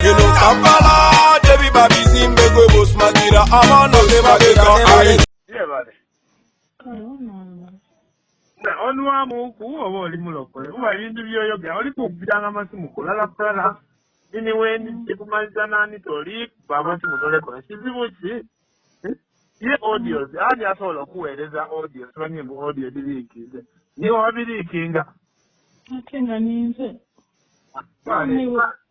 eno kampala tebiba bizimbe gwe bosmagira abaana tebagega onwamuku oba oli mulokole kuba ebintu byoyogera oli kubbiranga masimu kulala kulala ini weni kikumaliza nani toli baba kimutoleko ekizibu ki ye audios ani asobola okuweereza audios banye mu audio ebiriikinze niwe wabiriikinga ate nga ninze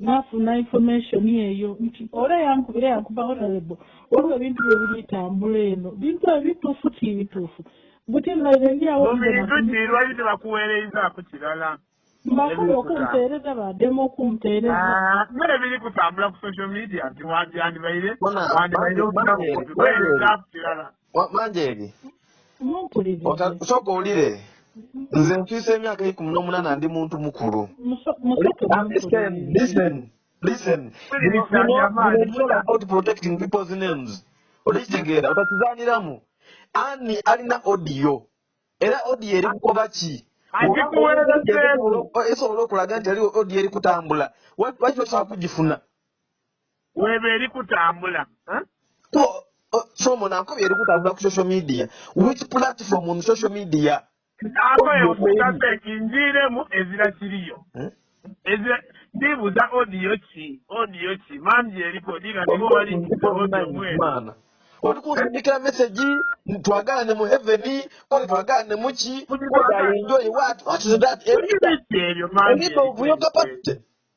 nafuna information eyo nti ora yankubira yankuba honorable waliwo ebintu byebibitambula eno bintu ebitufu kibitufu buti naize ndiawomubiritutiirwali tebakuweereizaaku kirala mbasaba okumpeereza bademu okumpeereza ah, mune biri kutambula ku social media nti wandyandibaire wandibaireokuweerezaaku kirala manjeeri sooka owulire nze nfiisa emyaka ekumi n'omunana ndi muntu mukulu olikitegeera otakizaniramu ani alina odiyo era odiyo eri kukoba ki esobola okulaga nti ali odiyo eri kutambula waki osobola kugifuna weba eri kutambula somo nankubye eri kutambula ku social media which platform on social media akoyekutasa ekinjiiremu ezira kiriyo hmm? ndibuza odiyo ki odiyo ki mangi eriko diga nibo bali mwana oli kunsindikira mesegi twagalane mu heveni oli twagalane muki enjoy what what is that ebyo ebyo mangi ebyo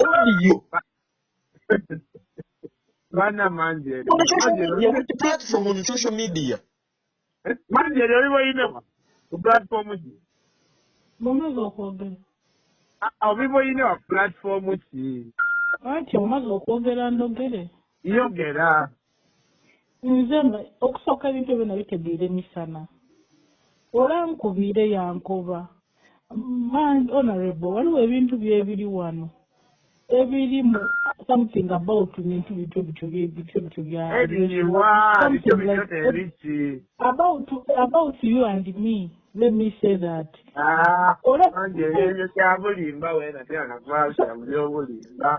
Audio. Bana manjeri. On social media, which platform on social media? Manjeri, oliwo yinewa. Ku platform ki? Mumaze okwogera. Oliwo yinewa platform ki? Ati omaze okwogera ndogere. Yogera. Nze okusooka ebintu ebyo nabitegeera emisana olankubiire yankoba man honorable waliwo ebintu byebiri wano ebirimu something about bintu bityo bityo bityo bityo byaabout about you and me let me say that ah, olekyabulimba wena tena nakwasa buli obulimba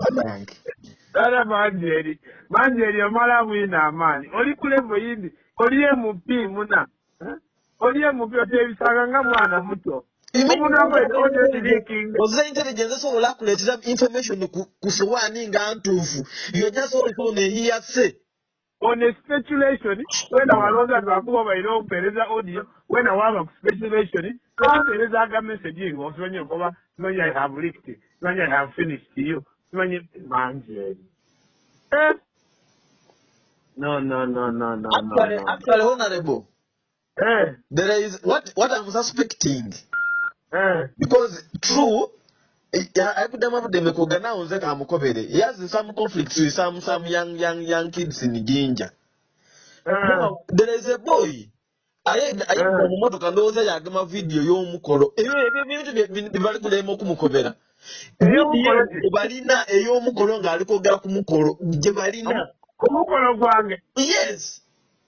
banange Dada manjeri manjeri omala bwina amaanyi oli ku levo yindi oli mp muna Eh? oli mp oteebisanga nga mwana muto omuna gwetondekirikinga oze intelligence esobola akuleetera information ku, ku sowaani nga ntuufu yoja sobola kubona eyiyase on a speculation wena walonda twakuba balina okupereza audio wena waba ku speculation twapereza aga message nga osimanyi okuba simanyi i have licked simanyi i have finished you simanyi mangi eri eh? no no no no no actually, no, no. actually honorable Eh. There is what what I'm suspecting. Eh. Because true akudama budeme kugana unze ka mukobere. He has some conflicts with some some young young young kids in Jinja. Eh. Now, there is a boy ayenda mu motoka ndowooza yagema vidiyo y'omukolo ebyo ebyo ebintu byebali kulema okumukobera balina ey'omukolo ng'ali kwogera ku mukolo gye balina omukolo gwange yes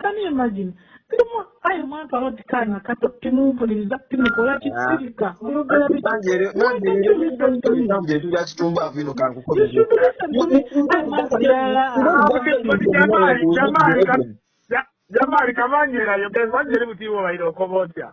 Can you imagine? Kirimu ayi mwantu alodi kaana kato timumpuliriza timukola kisirika oyogera biki? Why can't you listen to me? You should listen to me. Ayi mwantu yala. Jamali kamanyira yo kwanjira mutiwo bayiro kobotya.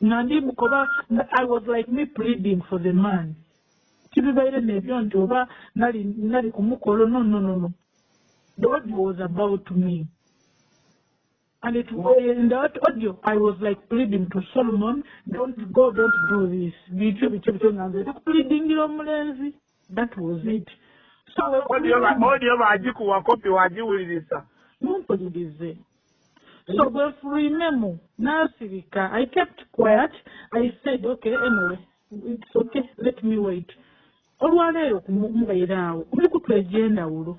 nandi mukoba i was like me pleading for the man kibibaire nebyo nti oba nali nali kumukolo no no no no the audio was about me and it was in that audio i was like pleading to solomon don't go don't do this bityo bityo bityo nga nze ndikupleadingira omulenzi That was it. So audio ba audio ba jiku wa copy wa jiwulirisa. Mumpulirize. So gwe furinemu nasirika. I kept quiet. I said okay anyway. It's okay. Let me wait. Olwaleero kumubeera awo. Muli kutwejenda ulo.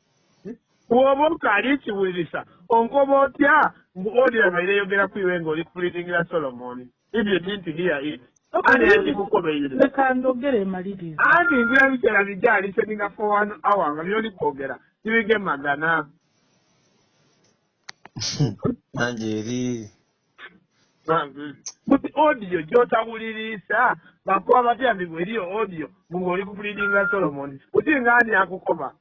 bwoba okaali ekiwulirisa onkoba otya mbu odira maire eyogera kuiwe nga oli kulitingira solomon if you didn't hear it anti ngira biseera bijja aliseninga for one hour nga byoli kwogera tibige magana nange eri but audio gyotawuliriisa bakuba batya mbi bweriyo audio ng'oli kukulidinga solomon uti ng'ani akukoba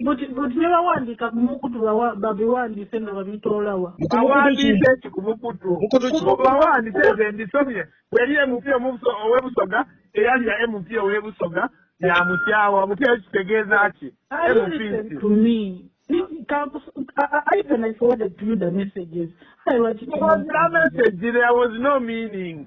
But but ne bawandiika ku mukutu bawa babiwandiise nga babitoolawa. Mu ku mukutu ki? awandiise eki ku mukutu Mukutu ki? Ku bawandiise nze mbisomye weri emupi omubuso ow'ebusoga eyalya emupi ow'ebusoga yamukyawa mupi ekyo kitegeeza ki I emupi listened nti to me. Campus, I, I I even I forwarded to you the messages. I was There was no message, there was no meaning.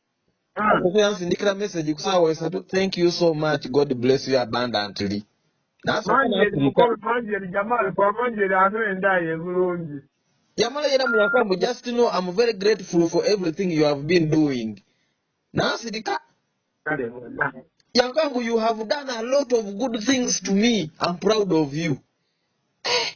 okukuya nsindikira message kusaawa esatu thank you so much god bless you abundantly yamala yena muyakamu just know am very grateful for everything you have been doing nasirika yankangu you have done a lot of good things to me am proud of you eh.